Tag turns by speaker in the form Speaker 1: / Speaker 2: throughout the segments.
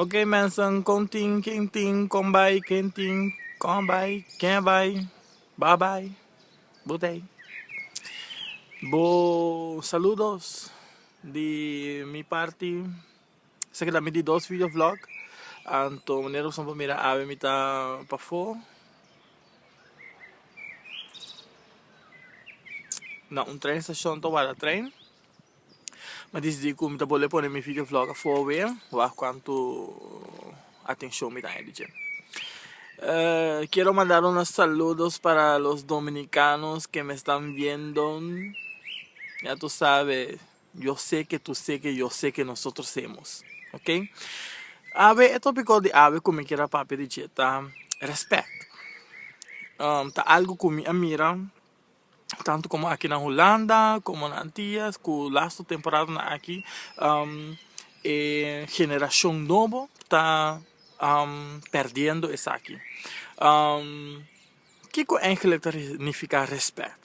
Speaker 1: Ok mensen kon tin kin tin kon bay ken tin kon a bay ken a bay bay bay bo tey bo saludos di mi parti esaki ta mi di dos video vlog anto manera boso por mira awe mi ta pafo na un tren station ta wara tren. Mi dici di cu mi ta bolbe pone mi videoblog afo awe, wak cuanto atencion mi ta haya di dje. Quiero mandar unos saludos para los dominicanos que me están viendo, ya tu sabe, yo se que tu se que yo se que nosotros semos, ok. Awe e topico di awe cu mi kier a papia di dje ta respect, ta algo cu mi a mira. tantu komo aki na Hulanda komo na Antias ku las tu temporadanan aki e generashon nobo ta perdiendo esaki kiko eigenlijk ta nifiká rèspèt?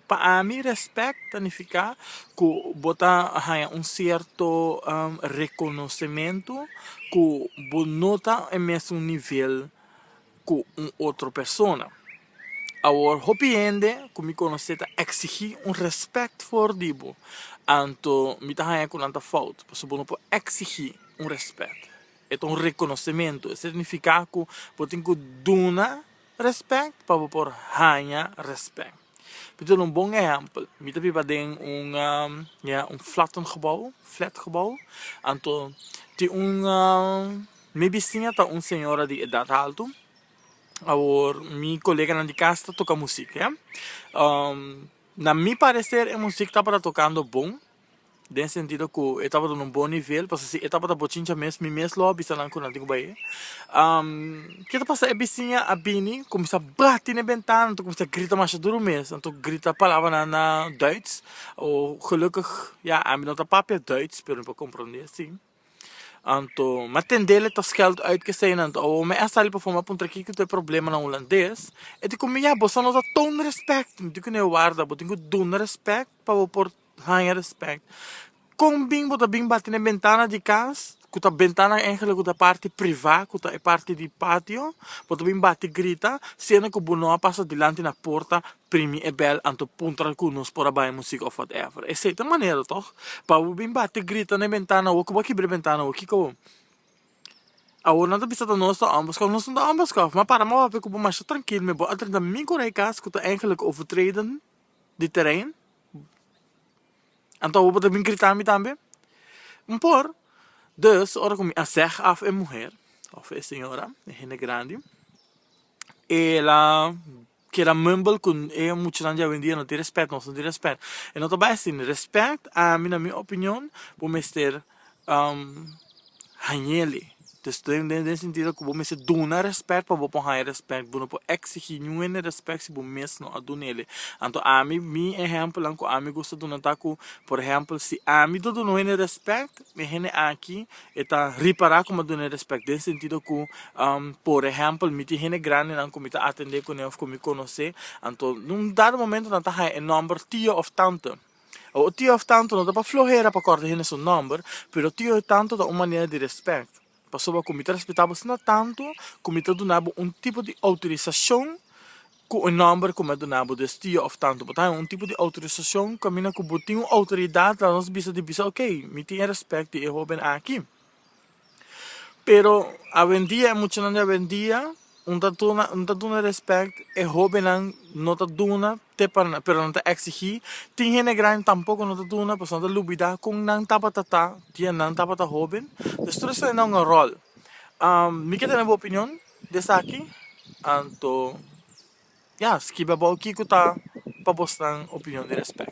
Speaker 1: Pa ami rèspèt ta nifiká ku bo ta haña un sierto rekonosementu ku bo no ta e mesun nivel cu un otro persona. Awor hopi hende cu mi conoce ta exigi un respect for di bo, anto mi ta haya cu nan ta fout, pasobra bo no por exigi un respect, e ta un reconocemento, e significa cu bo tin cu duna respect pa bo por haya respect. Mi ta duna un bon ehèmpel, mi ta biba den un un flatten gebou, flat gebou, anto tin un mi bisiña ta un señora di edat altu, awor mi koleganan di kas ta toka musik, ya na mi pareser e musik tabata tokando bon den sentido cu e tabata na un bon nivel pasobra si e tabata bochincha mes mi mes lo a bisa nan cu nan tin cu bay e ke ta pasa e bisiña a bini cuminsa bati n'e bentana anto cuminsa grita masha duru mes anto grita palabranan na duits o gelukkig ya ami no ta papia duits pero mi por comprende si anto m'a tende le ta scheld uit kesey nan anto awo mi a sali p'e for m'a puntra kiko ta e problema na hulandes e di cu mi ya bosa no ta toon respect mi tin cu n'e warda bo tin cu duna respect pa bo por Haña respect. Kon bin bo ta bin bati n'e bentana di kas, ku ta bentana eigenlijk ku ta parti privá, ku ta e parti di patio, bo ta bin bati grita, siendo ku bo no a pasa dilanti na porta primi e bèl anto puntra ku nos por a bai musika òf whatever? Esei ta manera tòg? Pa bo bin bati grita n'e bentana awor ku bo a kibra e bentana awor, kiko bo? Awor nan ta bisa ta nos ta òmberskòf, nos no ta òmberskòf, ma para m'a papia ku bo masha trankil, mi bo a drenta mi kura e kas ku ta eigenlijk overtreden. di teren anto bo por ta bin grita mi tambe N por dus ora cu mi a zeg af e muher of e señora e hende grandi el a keda mumble cu e muchanan di awendia no tin respet nos no tin respet e no ta bay asina respet ami na mi opinion bo mester Hañ'e-li. Dus den den den sentido ku bo mester duna rèspèt pa bo por haña rèspèt. Bo no por èksigí niun hende rèspèt si bo mes no a duna el'e. Anto ami, mi ehèmpelnan ku ami gusta duna ta ku, por ehèmpel, si ami ta duna un hende rèspèt, e hende aki e ta ripará ku mi a duna'e rèspèt. Den sentido ku, por ehèmpel, mi tin hende grandenan ku mi ta atendé kuné òf ku mi konosé, anto un dado momento nan ta haña e nòmber tio òf tante. Awor tio of tanto no ta pa flohera pa kòrda hende su nòmber, pero tio e tanto ta un manera di respèkt, pasobra ku mi ta respetá bo asina tantu ku mi ta duna bo un tipo di outorisashon ku e nòmber ku mi a duna bo. Des tio of tanto bo ta haña un tipo di outorisashon, kaminda ku bo tin un outoridat, lanos bisa di bisa, Okey, mi tin e respèkt di e hóben aki. Pero awendia e muchanan di awendia un ta duna un ta duna respect e hobennan no ta duna te para nan pero nan ta exigi tin hende grandi tampoco no ta duna pasobra nan ta lubida con nan tabata ta dia nan tabata hoben pues tur esaki nan un rol mi ke tene bo opinion di esaki anto ya skip abou kiko ta pa bosnan opinion di respect.